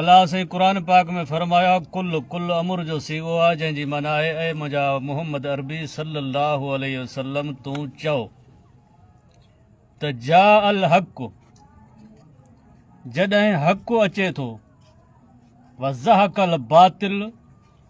الله سائين قرآن پاڪ ۾ فرمايو آهي قل قل امر جو سيغو آهي جنهن جي معنيٰ آهي اي منهنجا محمد عربي صلي الله عليه وسلم تون چئو ته جاء الحق جڏهن حق اچي ٿو وزهق الباطل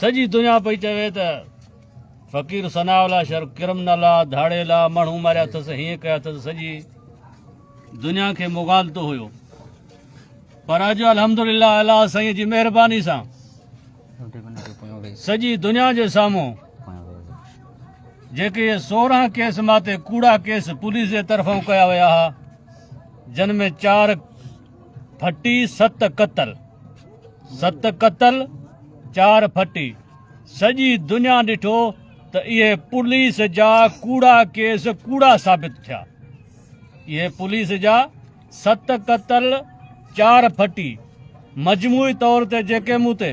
سڄي دنيا پئي چوي ته فقير ثناء الله شرف ڪرمنل آ ڌاڙيل آ ماڻهو ماريا اٿس هيئن ڪيا اٿس سڄي دنيا کي مغالتو هيو پر اڄ الحمدلله الله سائين جي مهرباني سان سڄي دنيا جي سامهون جيڪي سورهن ڪيس ماتي ڪوڙا ڪيس پوليس جي طرفان ڪيا ويا ها جن ۾ چار ڦٽي ست قتل، ست قتل چار ڦٽي، سڄي دنيا ڏٺو ته اهي پوليس جا ڪوڙا ڪيس ڪوڙا ثابت ٿيا. اهي پوليس جا ست قتل چار ڦٽي مجموعي طور تي جيڪي مون تي